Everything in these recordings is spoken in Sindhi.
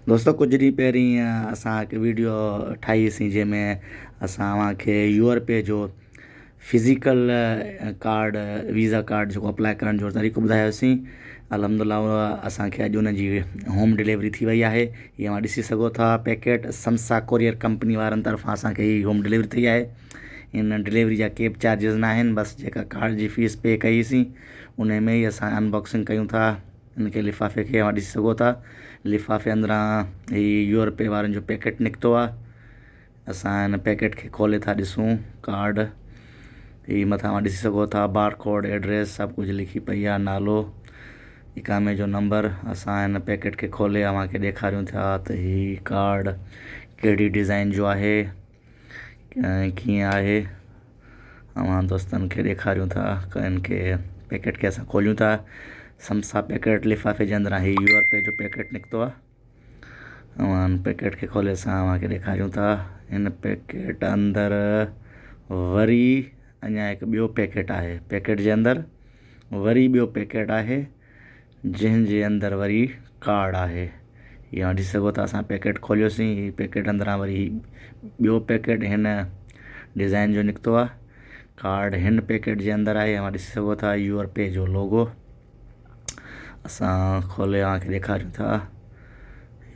دوستو ڪجهه ڏينهن پهرين اسان هڪ ويڊيو ٺاهي هئي سين جنهن ۾ اسان اوهان کي يو آر پي جو فزيڪل ڪارڊ ويزا ڪارڊ جيڪو اپلاء ڪرڻ جو طريقو ٻڌايو هو سين الحمد الله هو اسان کي اڄ ان جي هوم ڊليوري ٿي وئي آهي هي اوهان ڏسي سگهو ٿا پيڪيٽ سمسا ڪوريئر ڪمپني وارن طرفان اسان کي هي هوم ڊليوري ٿي آهي ان ڊليوري جا ڪي به چارجز ناهن بس جيڪا ڪارڊ جي فيس پي ڪئي هئي سين ان ۾ ئي اسان انباڪسنگ ڪيون ٿا ان کي لفافي کي اوهان ڏسي سگهو ٿا لفافي اندران هي يورپي وارن جو پيڪيٽ نڪتو آهي اسان ان پيڪيٽ کي کولي ٿا ڏسون ڪارڊ هي مٿان اوهان ڏسي سگهو ٿا بار ڪوڊ ايڊريس سڀ ڪجهه لکي پئي آهي نالو اقامي جو نمبر اسان ان پيڪيٽ کي کولي اوهان کي ڏيکاريون ٿا ته هي ڪارڊ ڪهڙي ڊزائين جو آهي ڪيئن آهي اوهان دوستن کي ڏيکاريون ٿا ڪن کي پيڪٽ کي اسان کوليون ٿا سمسا پيڪٽ لفافي جي اندران هي يو اپ جو پيڪٽ نڪتو آهي اوهان پيڪٽ کي کولي اسان اوهان کي ڏيکاريون ٿا ان پيڪٽ اندر وري اڃا هڪ ٻيو پيڪٽ آهي پيڪٽ جي اندر وري ٻيو پيڪٽ آهي جنهن جي اندر وري ڪارڊ آهي يا ڏسي سگهو ٿا اسان پيڪيٽ کوليوسين هي پيڪيٽ اندران وري هي ٻيو پيڪيٽ هن ڊزائين جو نڪتو آهي ڪارڊ هن پيڪيٽ جي اندر آهي اوهان ڏسي سگهو ٿا يوور پي جو لوگو اسان کولي اوهان کي ڏيکاريون ٿا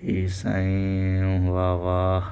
هي سائين واه واه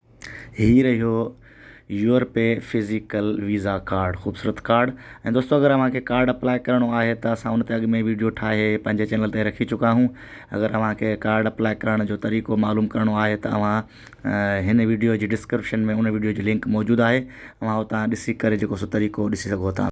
هي رهيو UrPay physical visa card خوبصورت ڪارڊ ۽ دوستو اگر اوهان کي ڪارڊ اپلاء ڪرڻو آهي ته اسان ان تي اڳ ۾ ويڊيو ٺاهي پنهنجي چينل تي رکي چڪا آهيون اگر اوهان کي ڪارڊ اپلاء ڪرڻ جو طريقو معلوم ڪرڻو آهي ته اوهان هن ويڊيو جي ڊسڪرپشن ۾ ان ويڊيو جي لنڪ موجود آهي اوهان اتان ڏسي ڪري جيڪو سو طريقو ڏسي سگهو ٿا